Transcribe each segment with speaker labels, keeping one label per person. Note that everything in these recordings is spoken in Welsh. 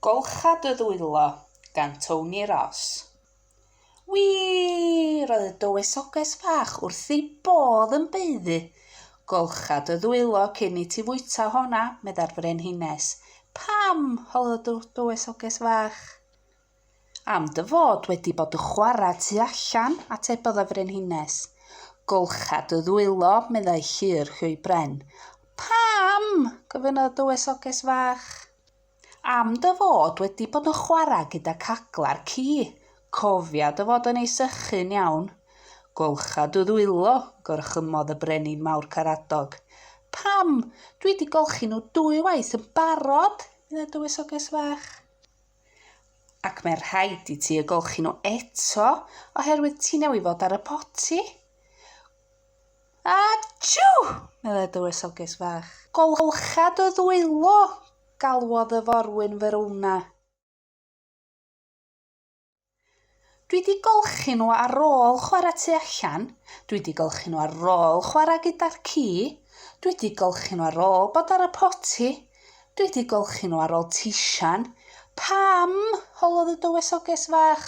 Speaker 1: Golchad y ddwylo gan Tony Ross. Wii! Roedd y dywysoges fach wrth ei bodd yn baeddu golchad y ddwylo cyn i ti fwyta honna, meddai'r Frenhines. Pam? holodd y dywysoges fach. Am dy fod wedi bod yn chwarae tu allan, atebodd y Frenhines. Golcha dy ddwylo, meddai Llyr Llwy Bren. Pam? gofynnodd y Dywysoges Fach. Am dy fod wedi bod yn chwarae gyda cagla'r ci. Cofia dy fod yn ei sychu'n iawn. Golcha dy ddwylo, gorchymmodd y Brenin Mawr Caradog. Pam? Dwi wedi golchi nhw dwy waith yn barod, meddai Dywysoges Fach. Ac mae rhaid i ti y golchi nhw eto oherwydd ti newydd fod ar y poti. Achw! meddai dywysoges fach. Golcha dy ddwylo! galwodd y forwyn Verona. Dwi 'di golchi nhw ar ôl chwarae tu allan, dwi 'di golchi nhw ar ôl chwarae gyda'r ci, dwi 'di golchi nhw ar ôl bod ar y poti, dwi 'di golchi nhw ar ôl tisian. Pam? holodd y dywysoges fach.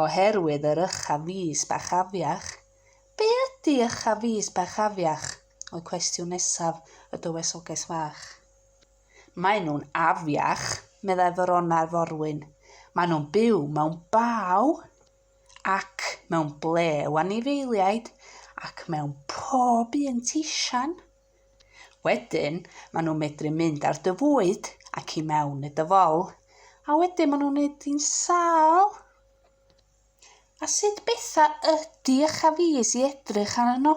Speaker 1: Oherwydd yr ycha fis bach afiach. Be ydy ycha fis bach afiach? oedd cwestiwn nesaf y dywysoges fach. Maen nhw'n afiach, meddai Verona i'r forwyn. Maen nhw'n byw mewn baw ac mewn ble o anifeiliaid ac mewn pob un tisian. Wedyn, maen nhw'n medru mynd ar dy fwyd ac i mewn i dy fol, a wedyn maen nhw'n wneud di'n sâl. A sut betha ydy eich hafis i edrych arnyn nhw?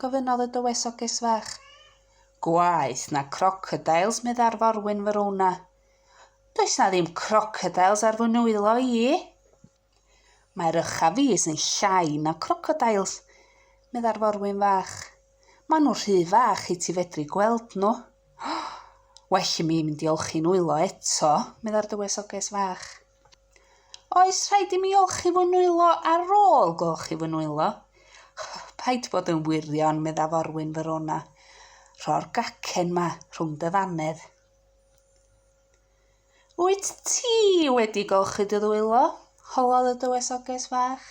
Speaker 1: gofynnodd y dywysoges fach. Gwaeth na crocodiles, meddai'r forwyn Verona. Does na ddim crocodiles ar fy nwylo i. Mae'r ychafis yn llai na crocodiles, meddai'r forwyn fach. Maen nhw rhy fach i ti fedru gweld nhw. Well i mi mynd i olchi'n nwylo eto, meddai'r dywysoges fach. Oes rhaid i mi olchi fy nwylo ar ôl golchi fy nwylo? Paid bod yn wirion, medda forwyn Verona. Rho'r gacen ma rhwng dy ddannedd. Wyt ti wedi golchi dy ddwylo? Holodd y dywysoges fach.